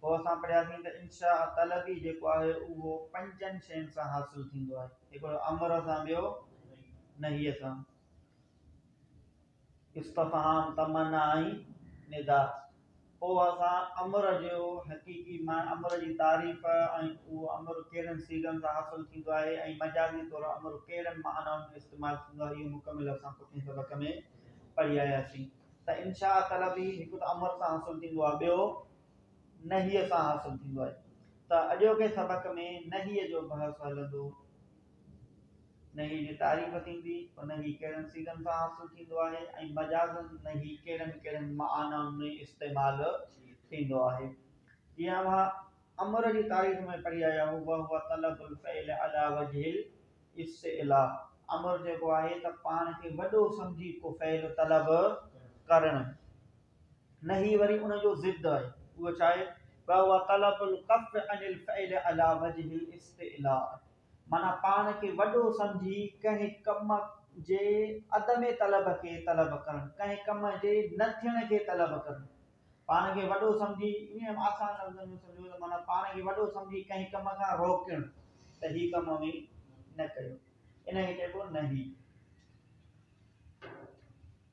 پوء اسان پڙهياسين ته انشاء طلبي جيڪو آهي اهو پنجن شين سان حاصل ٿيندو آهي هڪڙو امر سان ٻيو نهي سان استفهام تمنا ۽ ندا پوء اسان امر جو حقيقي امر جي تعريف ۽ اهو امر ڪهڙن سيغن سان حاصل ٿيندو آهي ۽ مجازي طور امر ڪهڙن معنائن ۾ استعمال ٿيندو آهي اهو مڪمل اسان پٺين سبق ۾ پڙهي آياسين ته انشاء طلبي هڪ ته امر سان حاصل ٿيندو آهي ٻيو نهيء سان حاصل ٿيندو آهي ته اڄوڪي سبق ۾ نهيء جو بحث هلندو. نهيء جي تعريف ٿيندي ته نهي ڪهڙن صيغن سان حاصل ٿيندو آهي ۽ مجازن نهي ڪهڙن ڪهڙن معنائن ۾ استعمال ٿيندو آهي. جيئن اوهان امر جي تعريف ۾ پڙهي آيا آهيو وهو طلب الفعل علي وجه الاستعلاء امر جيڪو آهي ته پاڻ کي وڏو سمجهي ڪو فعل طلب ڪرڻ نه هي وري ان جو ضد آهي. اهو ڇا آهي؟ وهو طلب الڪف عن الفعل علي وجه الاستعلاء. معنيٰ پاڻ کي وڏو سمجهي ڪنهن ڪم جي عدم طلب کي طلب ڪرڻ، ڪنهن ڪم جي نه ٿيڻ کي طلب ڪرڻ. پاڻ کي وڏو سمجهي، ائين آسان لفظن ۾ سمجهو ته معنيٰ پاڻ کي وڏو سمجهي ڪنهن ڪم کان روڪڻ ته هي ڪم اوهين نه ڪيو. ان کي چئبو نهي.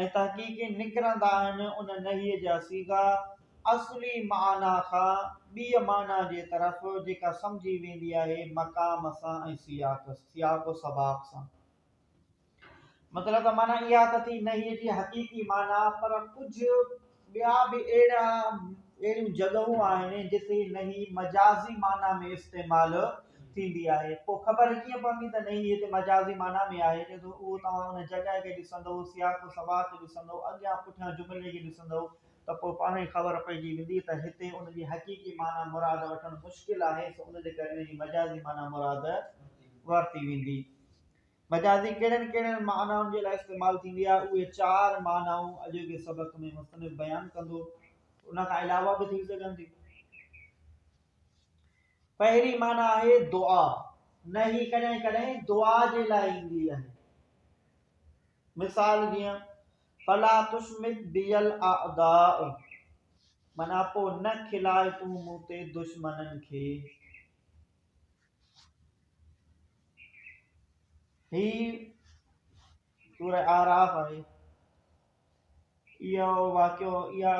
۽ تحقيقين نڪرندا آهن ان نهيء جا صيغا اصلي معنيٰ کان ٻيء معنيٰ جي طرف جيڪا سمجهي ويندي آهي مقام سان ۽ سياق، سياق و سباق، سان. مطلب ته معنيٰ اها ته ٿي نهيء جي حقيقي معنيٰ پر ڪجهه. ٻيا به اهڙا اهڙيون جڳهون آهن جتي نهي مجازي معنيٰ ۾ استعمال ٿيندي آهي پوء خبر ڪيئن پوندي ته نهي هتي مجازي معنيٰ ۾ آهي چئي ٿو اهو توهان ان جڳهه کي ڏسندؤ سياق و سباق کي ڏسندؤ اڳيان پٺيان جملي کي ڏسندؤ ته پوء پاڻ ئي خبر پئجي ويندي ته هتي ان جي حقيقي معنيٰ مراد وٺڻ مشڪل آهي سو ان جي ڪري ان جي مجازي معنيٰ مراد ورتي ويندي مجازي ڪهڙن ڪهڙن معنائن جي لاء استعمال ٿيندي آهي اهي چار معنائون اڄوڪي سبق ۾ مصنف بيان ڪندو ان کان علاوه به ٿي سگهن ٿي پهرين معنی آهي دعا نه هي ڪڏهن ڪڏهن دعا جي لاء ايندي آهي مثال جيئن فلا تشمت بيل اعداء منا پو نه کلائي تون مون تي دشمنن کي هي سورة اعراف آهي. اهو واقعو اها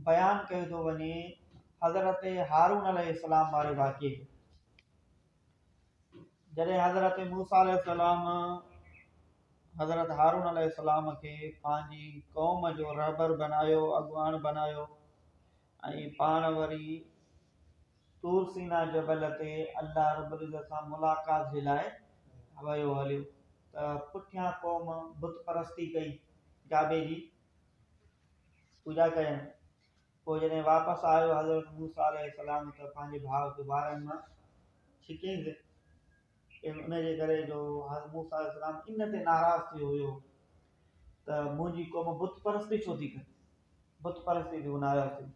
بيان ڪيو ٿو وڃي حضرت هارون عليه السلام واري واقعي جڏهن حضرت موسا عليه السلام حضرت هارون عليه السلام کي پنهنجي قوم جو رهبر بنايو اڳواڻ بنايو ۽ پاڻ وري طور سينا جبل تي الله رب العزت سان ملاقات جي لاء ويو هليو ته پٺيان قوم بت پرستي ڪئي جابي جي پوڄا ڪيائين پوء جڏهن واپس آيو حضرت موسيٰ عليه السلام ته پنهنجي ڀاء کي وارن مان ڇڪيائينس ان جي ڪري جو حضرت موسيٰ عليه السلام ان تي ناراض ٿي ويو هيو ته منهنجي قوم بت پرستي ڇو ٿي ڪري بت پرستي تي هو ناراض ٿي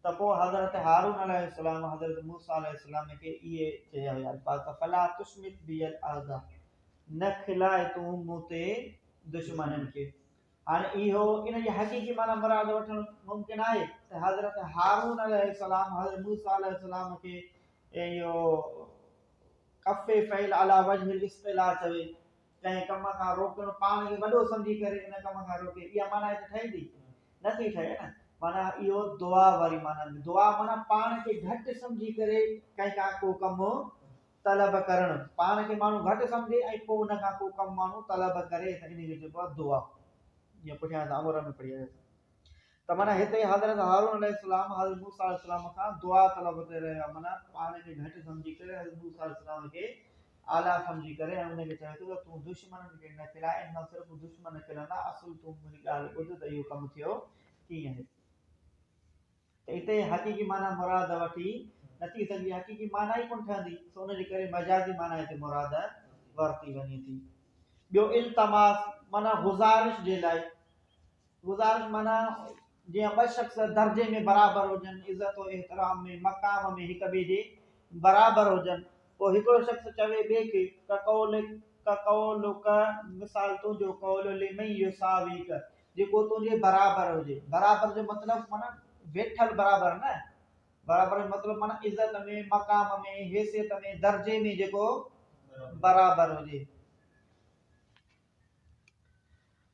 ته پوء حضرت هارون عليه السلام حضرت موسيٰ عليه السلام کي اهي چيا هيا الفاظ ته فلا تشمت بي الاعداء نه کلائي تون مون تي دشمنن کي هاڻي اهو ان جي حقيقي معنی مراد وٺڻ ممڪن آهي ته حضرت هارون عليه السلام حضرت موسيٰ عليه السلام کي اهو ڪف فعل علي وجه الاصطلاح چوي ڪنهن ڪم کان روڪڻ پاڻ کي وڏو سمجهي ڪري ان ڪم کان روڪي اها معنيٰ هت ٺهي ٿي نه ٿي ٺهي نه معنيٰ اهو دعا واري معنيٰ دعا معنيٰ پاڻ کي گهٽ سمجهي ڪري ڪنهن کان ڪو ڪم طلب ڪرڻ پاڻ کي ماڻهو گهٽ سمجهي ۽ پوء ان کان ڪو ڪم ماڻهو طلب ڪري ته ان کي چئبو دعا جيئن پٺيان اسان امر ۾ پڙهي آياسين ته معنيٰ هتي حضرت هارون عليه السلام حضرت موسيٰ عليه السلام کان دعا طلب تي رهيا معنيٰ پاڻ کي گهٽ سمجهي ڪري حضرت موسيٰ عليه السلام کي اعليٰ سمجهي ڪري ۽ ان کي چوي ٿو ته تون دشمنن کي نه کلائي ان سان صرف دشمن کلندا اصل تون منهنجي ڳالهه ٻڌ ته اهو ڪم ٿيو ڪيئن هتي ته اتي حقيقي معنيٰ مراد وٺي نٿي سگهجي حقيقي معنيٰ ئي ڪونه ٺهندي سو ان جي ڪري مجازي معنيٰ هتي مراد ورتي وڃي ٿي ٻيو التماس معنيٰ گذارش جي لاء گذارش معنيٰ جيئن ٻه شخص درجي ۾ برابر هجن، عزت و احترام ۾، مقام ۾ هڪ ٻئي جي برابر هجن. پوء هڪڙو شخص چوي ٻئي کي، ڪقولڪ قولڪ مثال تنهنجو قول لمن يساويڪ، جيڪو تنهنجي برابر هجي. برابر جو مطلب معنيٰ ويٺل برابر نه، برابر جو مطلب معنيٰ عزت ۾، مقام ۾، حيثيت ۾، درجي ۾ جيڪو برابر هجي.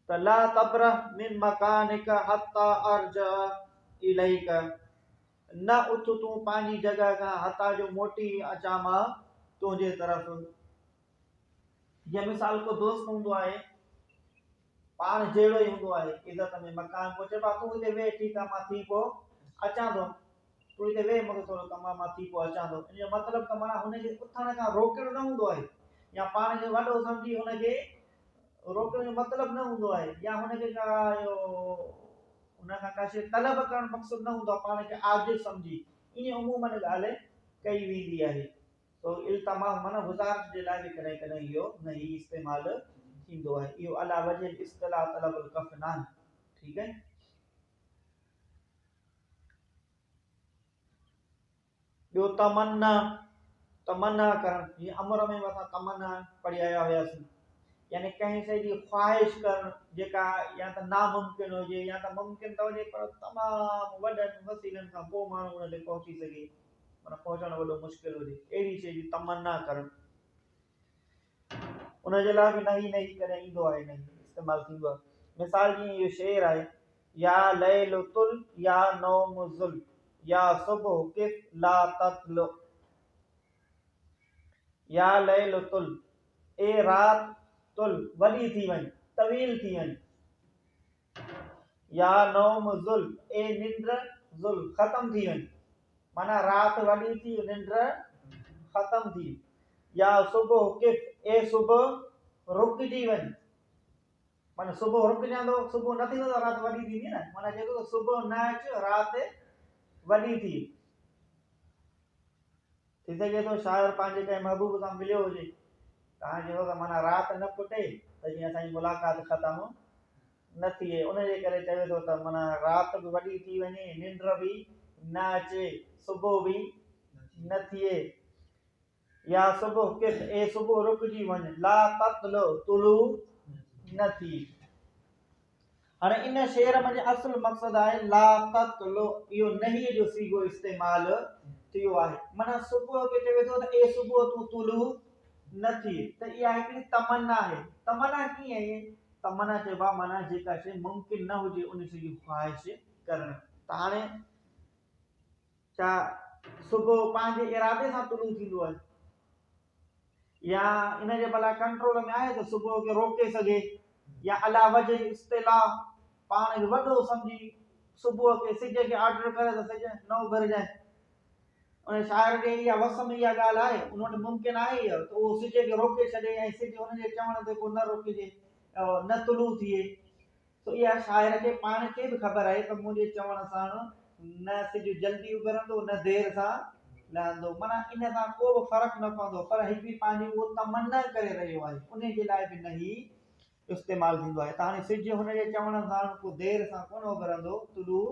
ته لا تبرح من مڪانک حتي ارجع اليک نه اٿ تون پنهنجي جڳهه کان حتيٰ جو موٽي اچان مان تنهنجي طرف جي مثال ڪو دوست هوندو آهي پاڻ جهڙو ئي هوندو آهي عزت ۾ مڪان پهچي با تون هتي ويهه ٺيڪ آهي مان ٿي پوء اچان ٿو تون هتي ويهه، مون کي ٿورو ڪم آهي، مان ٿي پوء اچان ٿو. ان جو مطلب ته معنيٰ هن کي اٿڻ کان روڪڻ نه هوندو آهي يا پاڻ کي وڏو سمجهي هن کي روڪڻ جو مطلب نه هوندو آهي يا هن کي ڪا اهو هن کان ڪا شيء طلب ڪرڻ مقصد نه هوندو آهي پاڻ کي عاجز سمجهي ائين عموماً ڳالهه ڪئي ويندي آهي. سو التماس معنيٰ وزارت جي لاء به ڪڏهن ڪڏهن اهو نهي استعمال ٿيندو آهي. اهو علا وجه الاصطلاح طلب الڪف ناهي. ٺيڪ آهي. ٻيو تمنا، تمنا ڪرڻ، جيئن امر ۾ به اسان تمنا پڙهي آيا هياسين، يعني ڪنهن شيء جي خواهش ڪرڻ جيڪا يا ته ناممڪن هجي يا ته ممڪن ته هجي پر تمام وڏن وسيلن کان پوء ماڻهو ان تي پهچي سگهي، معنيٰ پهچڻ وڏو مشڪل هجي، اهڙي شيء جي تمنا ڪرڻ. ان جي لاء به نه هي نه هي ڪڏهن ايندو آهي نه هي استعمال ٿيندو آهي. مثال جيئن اهو شعر آهي، يا ليل طل يا نوم زل يا صبح قف لا تطلع يا ليل طل اي رات طل وڏي ٿي وڃ طويل ٿي وڃ. يا نوم ذل، اي ننڊ ذل، ختم ٿي وڃ. معنيٰ رات وڏي ٿي، ننڊ ختم ٿي. يا صبح ڪف، اي صبح رڪجي وڃ. معنيٰ صبح رڪجندو، صبح نه ٿيندو ته رات وڏي ٿيندي نه. معنيٰ چيندو ته صبح نه اچ، رات وڏي ٿي. ٿي سگهي ٿو شاعر پنهنجي ڪنهن محبوب سان مليو هجي تان جو هڪ معنيٰ رات نه ڦٽي ته جيئن اسان جي ملاقات ختم نه ٿئي ان جي ڪري چوي ٿو ته معنيٰ رات به وڏي ٿي وڃي ننڊ به نه اچي صبح به نه ٿئي يا صبح ڪٿ اي صبح رڪجي وڃ لا تطلع طلوع نه ٿئي هاڻي ان شعر منجهه اصل مقصد آهي لا تقل اهو نهيء جو صيغو استعمال ٿيو آهي معنيٰ صبح کي چوي ٿو ته اي صبح تون طلوع نه ٿيء ته اها هڪڙي تمنا آهي تمنا ڪيئن اهي تمنا چئبو آهي معنيٰ جيڪا شيء ممڪن نه هجي ان شيء جي خواهش ڪرڻ ته هاڻي ڇا صبح پنهنجي ارادي سان طلوع ٿيندو آهي يا ان جي ڀلا ڪنٽرول ۾ آهي ته صبح کي روڪي سگهي يا الا وجه جي اصطلاح پاڻ کي وڏو سمجهي صبح کي سج کي آرڊر ڪري ته سج نه اڀرجائي ان شاعر کي اها وس ۾ اها ڳالهه آهي ان وٽ ممڪن آهي ته اهو سج کي روڪي ڇڏي ۽ سج ان جي چوڻ تي پوء نه روڪجي نه طلوع ٿئي سو اها شاعر کي پاڻ کي به خبر آهي ته منهنجي چوڻ سان نه سج جلدي اڀرندو نه دير سان لهندو معنيٰ ان سان ڪو به فرق نه پوندو پر هي به پنهنجي اهو تمنا ڪري رهيو آهي انهي جي لاء به نه هي استعمال ٿيندو آهي ته هاڻي سج هن جي چوڻ سان ڪو دير سان ڪونه اڀرندو طلوع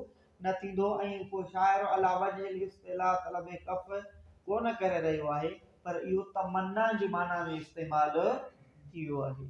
نه ٿيندو ۽ ڪو شاعر عليٰ وجه الاصطلاح طلب ڪف ڪونه ڪري رهيو آهي پر اهو تمنا جي معنيٰ ۾ استعمال ٿي ويو آهي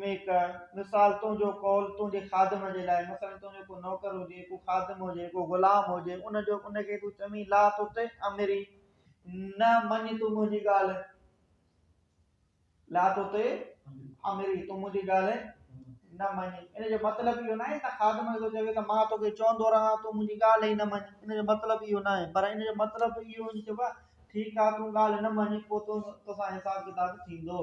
۾ ڪه، مثال، تنهنجو قول تنهنجي خادم جي لاء، مثلاً تنهنجو ڪو نوڪر هجي، ڪو خادم هجي، ڪو غلام هجي، ان جو ان کي تون چوين لا تطع امري، نه مڃ تون منهنجي ڳالهه، لا تطع امري، تون منهنجي ڳالهه نه مڃ، ان جو مطلب اهو ناهي ته خادم کي چوي ته مان توکي چوندو رهان تون منهنجي ڳالهه ئي نه مڃ، ان جو مطلب اهو ناهي، پر ان جو مطلب اهو هجي چئبو آهي ٺيڪ آهي تون ڳالهه نه مڃ پوء تون توسان حساب ڪتاب ٿيندو.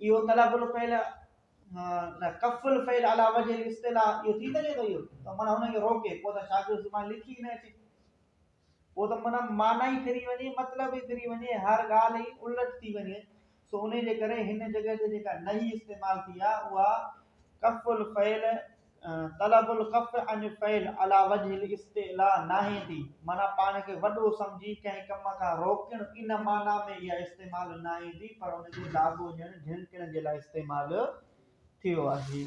اهو طلب الفعل نه ڪف الفعل علي وجه الاصطلاح اهو ٿي سگهي ٿو اهو ته معنی هن کي روڪي پوء ته شاگرد زبان لکي نه اچي پوء ته معنی معنی ئي ڦري وڃي مطلب ئي ڦري وڃي هر ڳالهه ئي الٽ ٿي وڃي سو ان جي ڪري هن جڳهه تي جيڪا نهي استعمال ٿي آهي اها ڪف الفعل طلب القف عن فعل علي وجه الاستعلاء ناهي ٿي، معنيٰ پاڻ کي وڏو سمجهي ڪنهن ڪم کان روڪڻ، ان معنيٰ ۾ اها استعمال ناهي ٿي، پر ان جو لاڳو ڄڻ جهنڪڻ جي لاء استعمال ٿيو آهي.